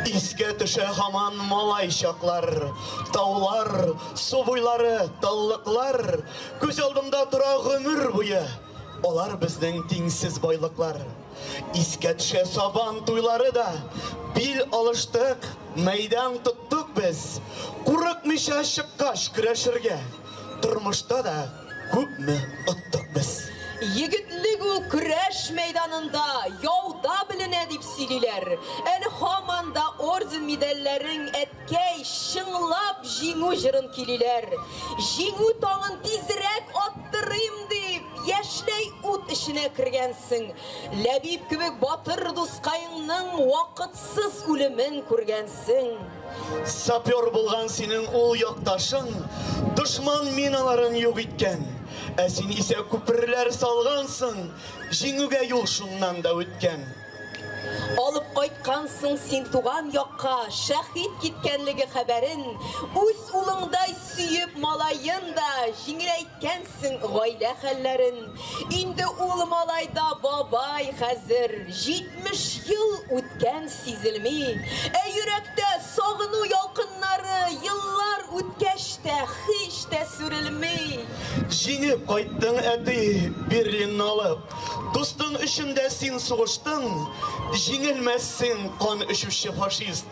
Искә төшә һаман малай чаклар. Таулар, су буйлары, таллыклар. Күз алдымда тора гомер буе. Алар безнең тиңсез байлыклар. Искә төшә Сабан туйлары да. Бил алыштык, мәйдан тоттык без. Курыкмыйча чыккач көрәшергә. Тормышта да Күпме оттык без. Егетлек ул көрәш мәйданында, яуда беленә, дип сөйлиләр. Әле һаман да орден-медальләрең, әткәй, чыңлап Җиңү җырын көйлиләр. Җиңү таңын тизрәк аттырыйм дип, яшьләй ут эченә кергәнсең. Ләбиб кебек батыр дускаеңның вакытсыз үлемен күргәнсең. Сапер булган синең ул якташың дошман миналарын юк иткән, ә син исә күперләр салгансың, җиңүгә юл шуннан да үткән. Алып кайткансың син туган якка шәһит киткәнлеге хәбәрен, үз улыңдай сөеп малаен да җиңеләйткәнсең. күрсәтсен гаилә хәлләрен. Инде ул малайда бабай хәзер, 70 ел үткән сизелми. Ә йөрәктә сагыну ялкыннары еллар үткәч тә һич тә сүрелми. Җиңеп кайттың, әти, Берлинны алып. Дустың өчен дә син сугыштың, җиңелмәссең, кан эчүче фашист.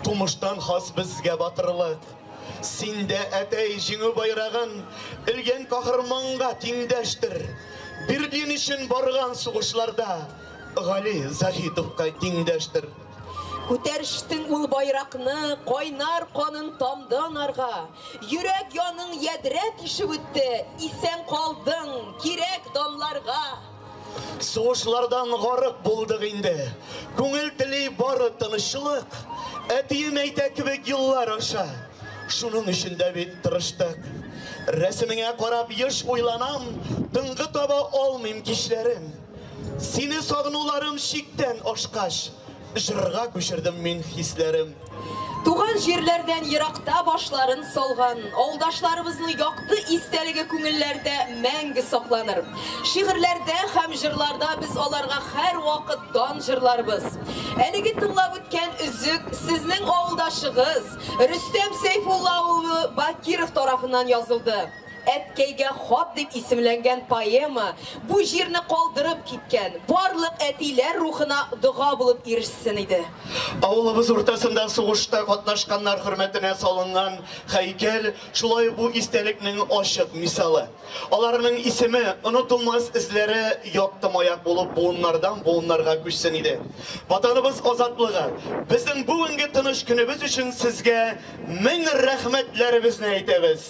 Тумыштан хас безгә батырлык. Син дә, әтәй, Җиңү байрагын элгән каһарманга тиңдәштер. Бер дин өчен барган сугышларда Гали Заһитовка тиңдәштер. Күтәрештең ул байракны, кайнар канын тамды анарга. Йөрәк яның ядрә тишеп үтте, исән калдың, кирәк данларга. Сугышлардан гарык булдык инде. Күңел тели бары тынычлык. Әтием әйтә кебек еллар аша. Шуның өчен дә бит тырыштык. Рәсемеңә карап еш уйланам, тынгы таба алмыйм кичләрен. Сине сагынуларым чиктән ашкач, Жырга күчердем мин хисләрем. Туган җирләрдән еракта башларын салган авылдашларыбызның якты истәлеге күңелләрдә мәңге сакланыр. Шигырьләрдә һәм җырларда без аларга һәр вакыт дан җырларбыз. Әлеге тыңлап үткән өзек сезнең авылдашыгыз Рөстәм Сәйфулла улы Бакиров тарафыннан язылды. Әткәйгә хат дип исемләнгән поэма бу җирне калдырып киткән барлык әтиләр рухына дога булып ирешсен иде. Авылыбыз уртасында сугышта катнашканнар хөрмәтенә салынган һәйкәл шулай бу истәлекнең ачык мисалы. Аларның исеме, онытылмас эзләре якты маяк булып буыннардан буыннарга күчсен иде. Ватаныбыз азатлыгы, безнең бүгенге тыныч көнебез өчен сезгә мең рәхмәтләребезне әйтәбез.